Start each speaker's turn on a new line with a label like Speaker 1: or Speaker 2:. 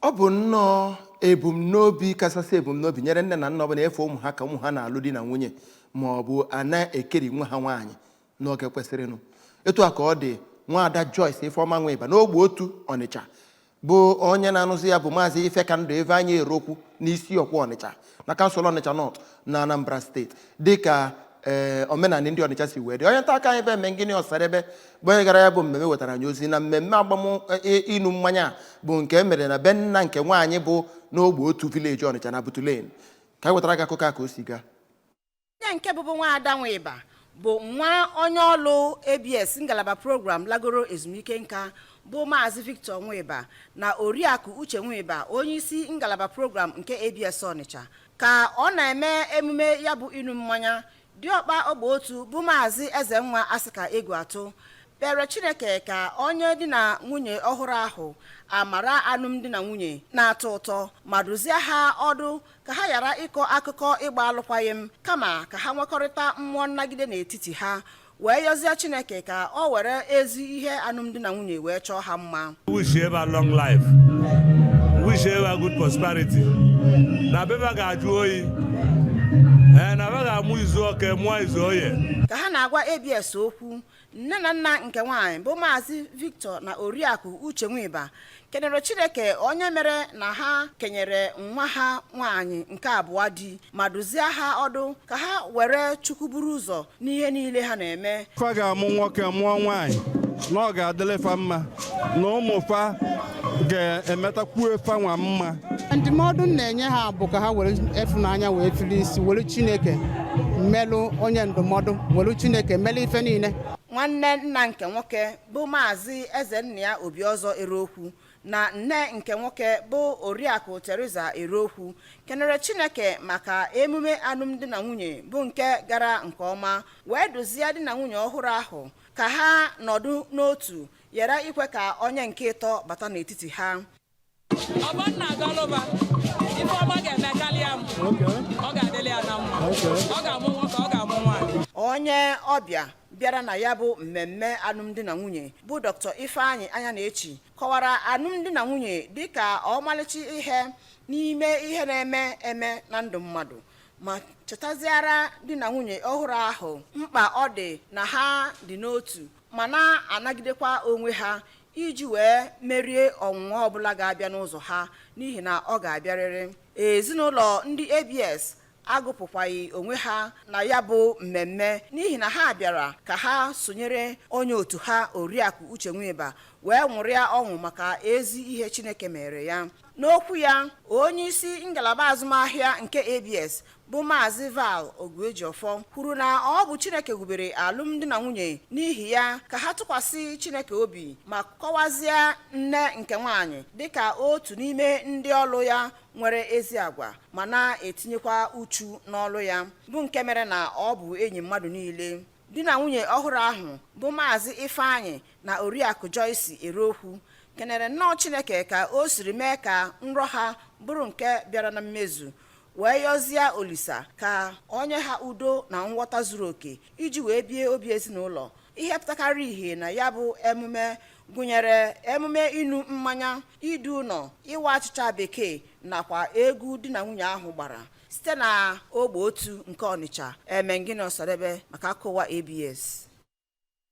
Speaker 1: ọ bụ nnọọ ebumnobi kachasị ebumnobi nyere nne na nna ọbụla ịfụ ụmụ ha ka ụmụ ha na-alụ di na nwunye ma ọ bụ a na-ekeri nwa ha nwaanyị n'oge kwesịrịnụ etu a ka ọ dị nwaada Joyce Ifeọma Nwiba n'ogbe otu Ọnịcha bụ onye na-anụzi ya bụ maazị Ifekandụ Ifeanyị Erokwu n'Isiokwe Ọnịcha na kansụl Ọnịcha North na Anambra steeti dịka ee eh, omenala ndị Ọnịcha si wee dị onye nta akụkọ anyị bụ Emengini Ọsadebe bụ onye gara ya bụ mmemme wetara anyị ozi na mmemme agbam ịnụ eh, mmanya bụ nke e mere na be nna nke nwaanyị bụ n'ogbe otu village Ọnịcha na Butu Lane ka anyị wetara gị akụkọ a ka o si gaa onye
Speaker 2: nke bụbụ nwaada nwiba bụ nwa onye ọlụ abs ngalaba program lagoro ezumike nka bụ maazị victor nwiba na oriakụ uche nwiba onye isi ngalaba program nke abs ọnịcha ka ọ na-eme emume ya bụ ịnụ mmanya diọkpa ogbe otu bụ maazị ezenwa asịka egwuatụ kpere chineke ka o nye di na nwunye ọhụrụ ahụ amara alụmdi na nwunye na-atọ ụtọ ma dụzie ha ọdụ ka ha ghara ịkọ akụkọ ịgba alụkwaghị m kama ka ha nwekọrịta mmụọ nnagide n'etiti ha wee yọzie chineke ka ọ were ezi ihe alụmdi na nwunye wee chọọ ha mma wishie fa
Speaker 3: long life wishie fa good prosperity na be fa ga-ajụ oyi ee eh, na fa ga-amụ izu eke mụọ izu oye ka ha na-agwa abs
Speaker 2: okwu nne na nna nke nwaanyị bụ maazị victor na oriakụ uche nwiba kenere chineke onye mere na ha kenyere nwa ha nwaanyị nke abụọ di ma dụzie ha ọdụ ka ha were chukwu buru ụzọ n'ihe niile ha na-eme fa ga-amụ nwoke
Speaker 4: mụọ nwaanyị na ọ ga-adịlị fa mma na ụmụ fa ga-emetakwuo fanwa mma ndụmọdụ m
Speaker 5: na-enye ha bụ ka ha welụ ịfụnanya wee fili isi welụ chineke melụ onye ndụmọdụ welụ chineke melụ ife niile nwanne nna
Speaker 2: nke nwoke bụ maazị ezennia obiọzọ erokwu na nne nke nwoke bụ oriakụ teresa erokwu kenere chineke maka emume alụmdi na nwunye bụ nke gara nke ọma wee dụzie di na nwunye ọhụrụ ahụ ka ha nọdụ n'otu ghara ikwe ka onye nke ịtọ bata n'etiti ha ọ bụ
Speaker 6: na ọ ga-alụba ifeọma ga-eme karịa m ọ ga-adịlị ya na mma ọ ga-amụ nwoke ọ ga-amụ nwaanyị onye ọbịa
Speaker 2: bịara na ya bụ mmemme alụmdi na nwunye bụ dr ifeanyị anyanechi kọwara alụmdi na nwunye dịka ọmalịcha ihe n'ime ihe na-eme eme na ndụ mmadụ ma chetaziara di na nwunye ọhụrụ ahụ mkpa ọ dị na ha dị n'otu ma na-anagidekwa onwe ha iji wee merie ọnwụnwa ọbụla ga-abịa n'ụzọ ha n'ihi na ọ ga-abịarịrị ezinụlọ ndị abs agụpụkwaghị onwe ha na ya bụ mmemme n'ihi na ha bịara ka ha sonyere onye otu ha oriakụ uche nwiba wee nwụrịa ọṅụ maka ezi ihe chineke meere ya n'okwu ya onye isi ngalaba azụmahịa nke abs bụ Maazị Val Oguejiofor kwuru na ọ bụ Chineke wubere alụmdi na nwunye n'ihi ya ka ha tụkwasị Chineke obi ma kọwazie nne nke nwaanyị dịka otu n'ime ndị ọlụ ya nwere ezi agwa ma na-etinyekwa uchu n'ọlụ ya bụ nke mere na ọ bụ enyi mmadụ niile di na nwunye ọhụrụ ahụ bụ Maazị Ifeanyị na Oriakụ Joyce Erokwu kenere nnọọ Chineke ka o siri mee ka nrọ ha bụrụ nke bịara na mmezu wee yọzie olisa ka ọ nye ha udo na nghọta zuru oke iji wee bie obi ezinụlọ ihe pụtakarị ihe na ya bụ emume gụnyere emume inu mmanya idu ụlọ ịwa achịcha bekee nakwa egwu di na nwunye ahụ gbara site na ogbe otu nke ọnịcha emengini ọsadebe maka akụkọ ụwa abs